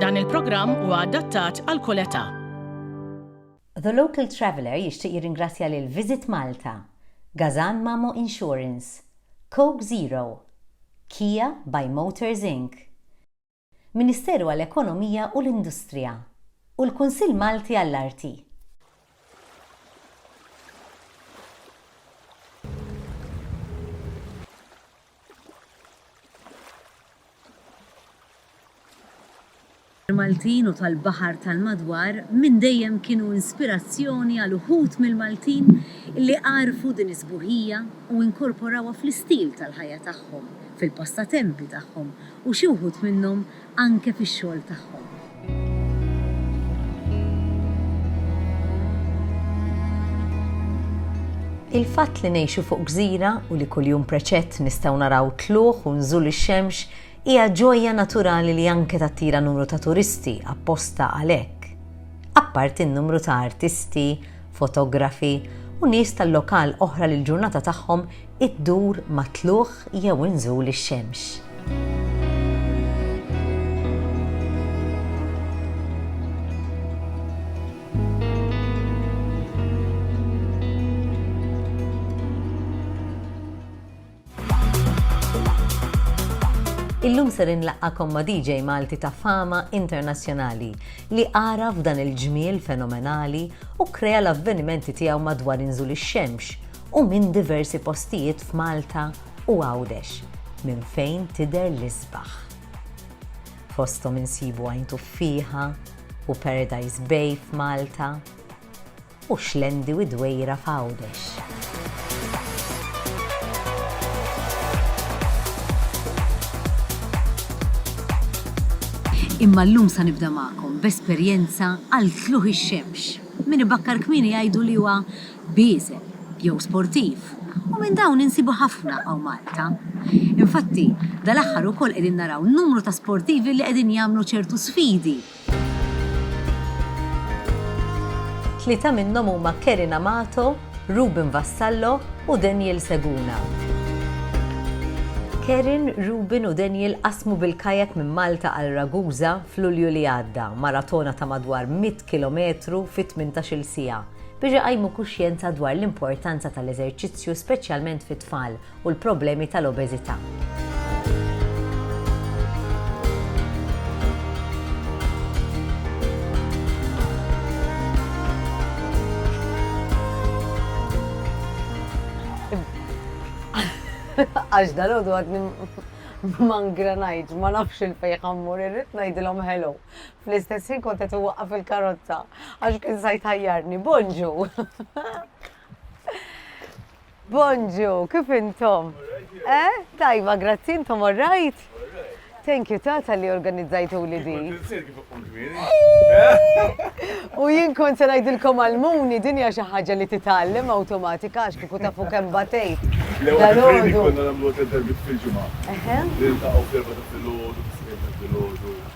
Dan il-programm huwa adattat għal kull età. The Local Traveller jixtieq jirringrazzja lil Visit Malta, Gazan Mamo Insurance, Coke Zero, Kia by Motors Inc, Ministeru għall-Ekonomija u l-Industrija, u l-Kunsill Malti għall-Arti. Il-Maltin u tal-baħar tal-madwar minn dejjem kienu inspirazzjoni għal uħud mill-Maltin li għarfu din is-sbuħija u inkorporawha fl-istil tal-ħajja tagħhom, fil-passatempi tagħhom u xi wħud minnhom anke fix-xogħol tagħhom. Il-fatt li ngħixu fuq gżira u li kuljum preċett nistgħu naraw tlugħ u nżul ix-xemx hija ġojja naturali li anke tattira numru ta' turisti apposta għalhekk. Apparti n-numru ta' artisti, fotografi u nies tal-lokal oħra li l-ġurnata tagħhom iddur ma' tlugħ jew inżul ix-xemx. Illum ser inlaqqagħkom ma' DJ Malti ta' fama internazzjonali li għaraf dan il-ġmiel fenomenali u krea l-avvenimenti tiegħu madwar inżul ix-xemx u minn diversi postijiet f'Malta u Għawdex minn fejn tidher l-isbaħ. Fosthom insibu Għajn Tuffieħa u Paradise Bay f'Malta u Xlendi u d-Dwejra f'Għawdex. Imma llum sa nibda magħkom b'esperjenza għal tlugħ ix-xemx. Min ibakkar kmieni jgħidu li huwa bieżel jew sportiv u minn dawn insibu ħafna hawn Malta. Infatti, dal-aħħar ukoll qegħdin naraw numru ta' sportivi li qegħdin jagħmlu ċertu sfidi. Tlieta minnhom huma Kerin Amato, Ruben Vassallo u Daniel Seguna. Kerin, Ruben u Daniel qasmu bil-kayak minn Malta għal Ragusa f'Lulju li għadda, maratona ta' madwar 100 kilometru fi tmintax-il siegħa biex iqajmu kuxjenza dwar l-importanza tal-eżerċizzju speċjalment fit-tfal u l-problemi tal-obeżità. Għax dalgħodu għadni ma ngranajtx, ma nafx 'il fejn ħa mmur, irrid ngħidilhom hello. Fl-istess ħin kont qed inwaqqaf il-karozza għax kien sa jtajjarni. Bonġu! Bonġu, kif intom? Eh? Tajba, grazzi intom all right? Thank you tata li organizzajtu li di. U jien kon se ngħidilkom għal-muni din hija xi ħaġa li titgħallem awtomatika għax kieku tafu kemm batejt. Dalodu. Konna nagħmlu tedderbit fil-ġimgħa. Niltaqgħu fl-erba' ta' filgħodu, fis-snin ta' filgħodu.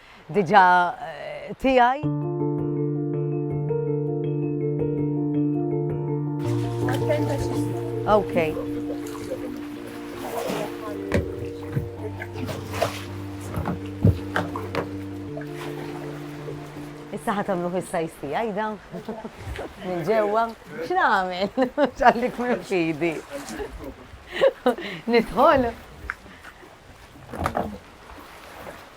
diġà tiegħi. Okay. Issa ħatamlu fis-sajs tiegħi dan. Minn ġewwa. X'nagħmel? Ġallik minn fidi. Nidħol.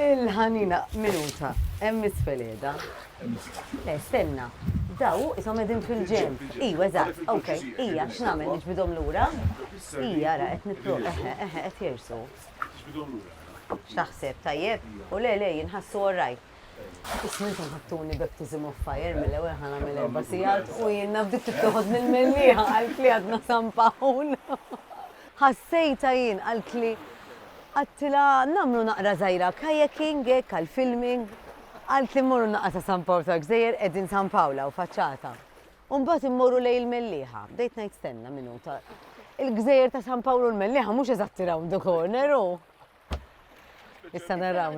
Il-ħanina minuta, hemm isfel qiegħda. Le, stenna. Daw hu qishom qegħdin fil-ġenb. Iju, eżatt, ok. Ija, x'nagħmel, niġbidhom lura? Ija, ara, qed nipro, eħe, eħe, qed jersu. X'taħseb, tajjeb? U le, le, jien ħassu all right. Isma' intom ħattuni baptism of fire mill-ewwel ħa nagħmel erba' sigħat u jiena bdiet tittoħodni l-mellieħa qalb li għadna sampaħun. Ħassejtha jien, qaltli. Għedtilha nagħmlu naqra żgħira kayaking hekk għal filming. Qaltli mmorru naqra sa San Pawl tal-Gżejjer qegħdin San Pawl hawn faċċata. U mbagħad immorru lejn il-Mellieħa. Bdejt ngħid stenna minuta. Il-Gżejjer ta' San Pawl u l-Mellieħa mhux eżatti round the corner hu. Issa naraw.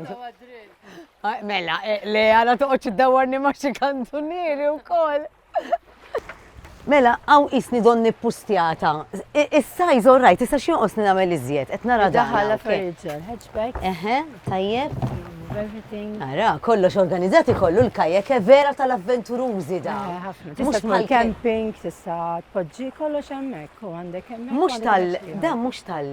Mela, eh, le għala toqgħodx iddawwarni ma' xi kantunieri wkoll. Mela, għaw isni don nippustjata. Is-sajz all right, issa xi jonqosni nagħmel iżjed, qed nara daħal. Daħal furniture, hatchback. Eħe, tajjeb. Everything. Ara, kollox organizzati kollu l-kajek e vera tal-avventurużi da. Mux mal camping, tista' tpoġġi kollox hemmhekk u għandek hemmhekk. Mhux tal, da mhux tal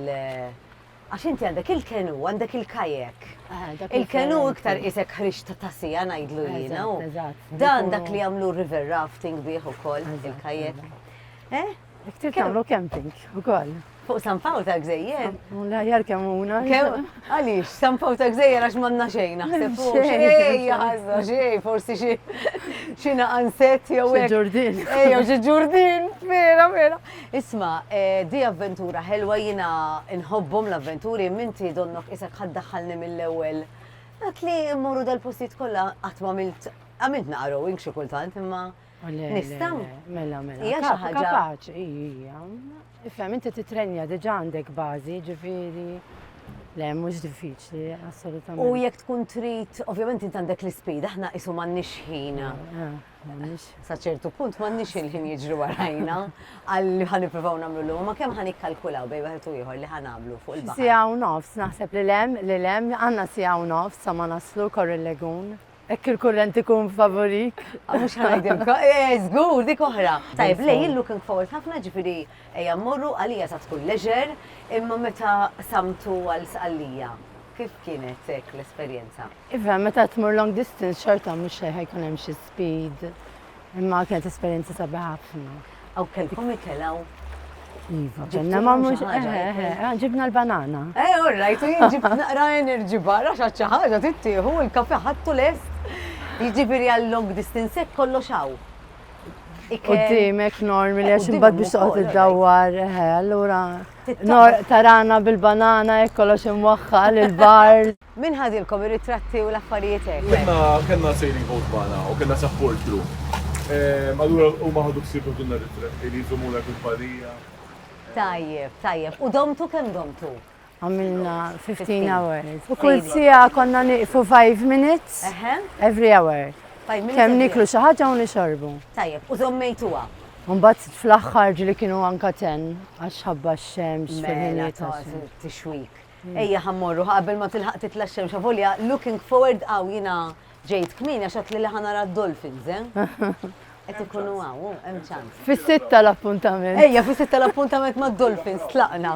Għax inti għandek il-kenu, għandek il-kajek. Eh, il-kenu iktar qisek ħriġ ta' tasija ngħidlu jiena. Dan dak li jagħmlu river rafting bih ukoll il-kajek. Eh? Ktif tagħmlu camping ukoll. Fuq San Pawl ta' Gżejjer? La jar kemm una. Għaliex, San Pawl ta' Gżejjer għax manna xejn naħseb fuq. Xejn, ħażna xejn, forsi xi xi naqanset jew hekk. Ġurdin. Ejjew xi ġurdin, vera, vera. Isma', di avventura ħelwa jiena nħobbhom l-avventuri imma inti donnok qisek ħa ddaħħalni mill-ewwel. Dak li mmorru dal-postijiet kollha qatt m'għamilt għamilt naqrowing xi kultant imma nista'? Mela, mela. Hija xi ħaġa. Kapaċi, hija. Ifhem inti titrenja diġà għandek bażi, ġifieri. Le, mhux diffiċli, assolutament. U jekk tkun trid, ovvjament int għandek l-ispida, aħna qisu m'għandniex ħin. M'għandniex. Sa ċertu punt m'għandniex il-ħin jiġru warajna għal li ħa nippruvaw nagħmlu l ma kemm ħa nikkalkulaw bejn wieħed u ieħor li ħa nagħmlu fuq il-baħar. Sija u nofs, naħseb li lem, li lem, għandna sija u nofs sa ma naslu korri l-legun. Ekk il-kurrent ikun favorik. Ah, mux ħanajdilka, eh, zgur, dik oħra. Tajb, lej, illu kien fawet ħafna ġifiri eja morru għalija sa tkun leġer, imma meta samtu għal sqallija. Kif kienet l-esperienza? Iva, meta tmur long distance xorta mhux xejn ħajkun hemm xi speed. Imma kienet esperjenza sabiħa ħafna. Aw kelkom ikelaw. Iva, ġenna ma mhux eh, eh, eh, ah, ġibna l-banana. Eh, all right, jien ġib naqra enerġi barra xi ħaġa tittieħu l-kafe ħattu lest. Jiġifieri għal long distance hekk kollox hawn. Qudiemek normi li għax imbagħad biex toqgħod iddawwar, allura tarana bil-banana hekk kollox imwaħħal il-bar. Min ħadilkom ir-ritratti u l-affarijiet hekk? Kellna kellna sailing boat magħna u kellna support crew. Allura huma ħadu ħsieb jagħtulna r-ritratti li jżommulna kumpanija. Tajjeb, tajjeb. U domtu kemm domtu? Għamilna fifteen hours. U kull siegħa konna nieqfu five minutes every hour. Kemm nieklu xi ħaġa u nixorbu. Tajjeb, u żommejtuha? U mbagħad fl-aħħar ġieli kienu anka ten għax ħabba x-xemx fil-ħinijiet. Mela, tixwik. Ejja ħa mmorru ħa qabel ma tilħaq titla' x-xemx avolja looking forward hawn jiena ġejt kmieni għax għadtli li ħa nara d-dolphins, eh? Qed ikunu hawn, oh, hemm ċans. Fis-sitta l-appuntament. Ejja, fis-sitta l-appuntament mad-dolphins tlaqna.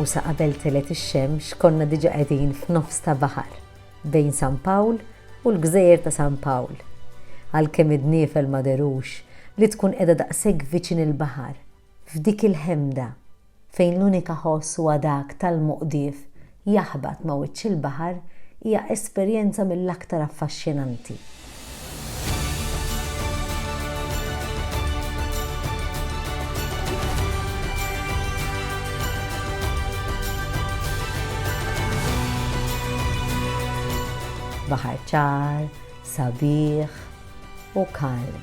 U sa qabel telgħet ix-xemx konna diġà qegħdin f'nofs ta' baħar bejn San Pawl u l-gżejjer ta' San Pawl. Għalkemm id-dniefel ma dherux li tkun qiegħda daqshekk viċin il-baħar, f'dik il-ħemda fejn l-unika ħoss huwa dak tal-moqdif jaħbat ma' wiċċ il-baħar hija esperjenza mill-aktar affaxxinanti. Baħar ċar, sabiħ u kalm.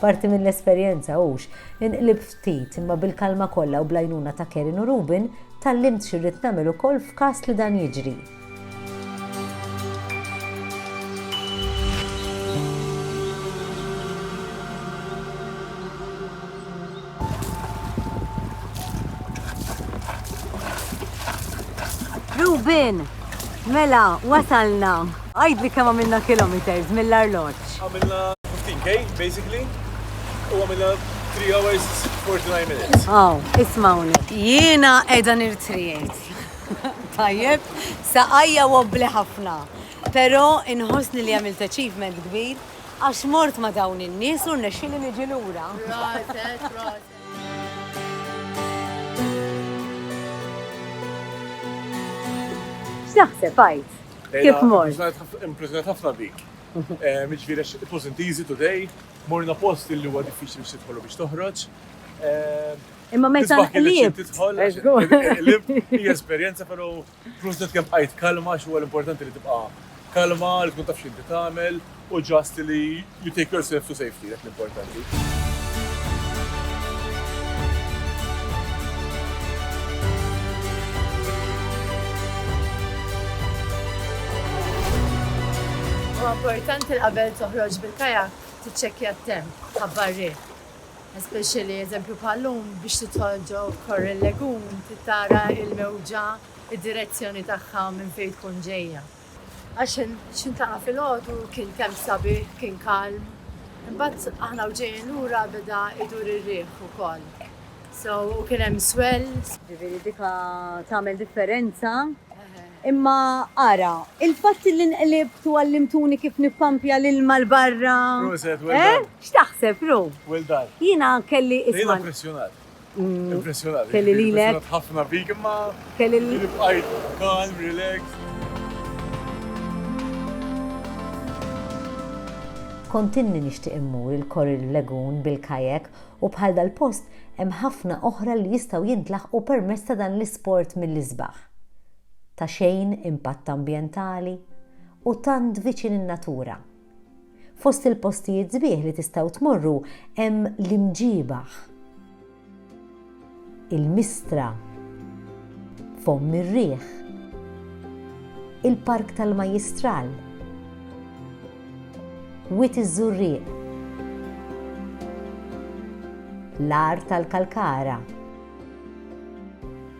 Parti mill-esperjenza hux, inqlibt ftit, imma bil-kalma kollha u bl-għajnuna ta' Karen u Ruben, tgħallimt xi rrid nagħmel ukoll f'każ li dan jiġri. Rubin, mela, wasalna. Għajd li kemm għamilna kilometers mill-arloġġ. Għamilna 15k, basically, u għamilna 3 hours 49 minutes. Aw, ismawni. Jiena edha nirtrijet. Tajjeb, saqajja wobbli ħafna. Pero inħosni li għamilt achievement kbir Għax mort ma' dawn in-nies u rnexxieli niġi lura. Proset, proset. X'taħseb għid? Kif mort? Impressjonat ħafna bik. Jiġifieri għax it wasn't easy today, morna post li huwa diffiċli biex tidħol u biex toħroġ. Imma meta qlibt. Tisbaħ kif trid tidħol. Hija esperjenza però Proset kemm bqajt kalma għax huwa l-importanti li tibqa' kalma, li tkun taf x'inti tagħmel u just li you take yourself to safety dak l-importanti. Huwa importanti li qabel toħroġ bil-kajak tiċċekkja t-temp, ħabbar riħ, Especially eżempju bħal llum biex tidħol ġo Kor il-Legun trid tara il-mewġa id-direzzjoni tagħha minn fejn tkun ġejja. Għax x'intlaqa' filgħodu kien temp sabiħ kien kalm. Imbagħad aħna u ġejjin lura beda idur ir-riħ ukoll. So u kien hemm swell. Ġifieri dika tagħmel differenza. Imma ara, il-fatt li nqlibt u għallimtuni kif nippampja l-ilma 'l barra. Proset, well done. X'taħseb, Ru? Well done. Jiena kelli isma'. Jiena impressjonat. Impressjonat. Kelli lilek. Impressjonat ħafna bik imma. Kelli lilek. Inti bqajt calm, relaxed. Kont inni nixtieq immur il-Kor il-Lagoon bil-kayak u bħal dal-post hemm ħafna oħra li jistgħu jintlaħqu permezz ta' dan l-isport mill-isbaħ. Ta' xejn impatt ambjentali u tant viċin in-natura. Fost il-postijiet sbieħ li tistgħu tmorru hemm l-Imġiebaħ, il-Mistra, Fomm ir-Riħ, il-Park tal-Majjistral, Wied iż-Żurrieq, l-Għar tal-Kalkara,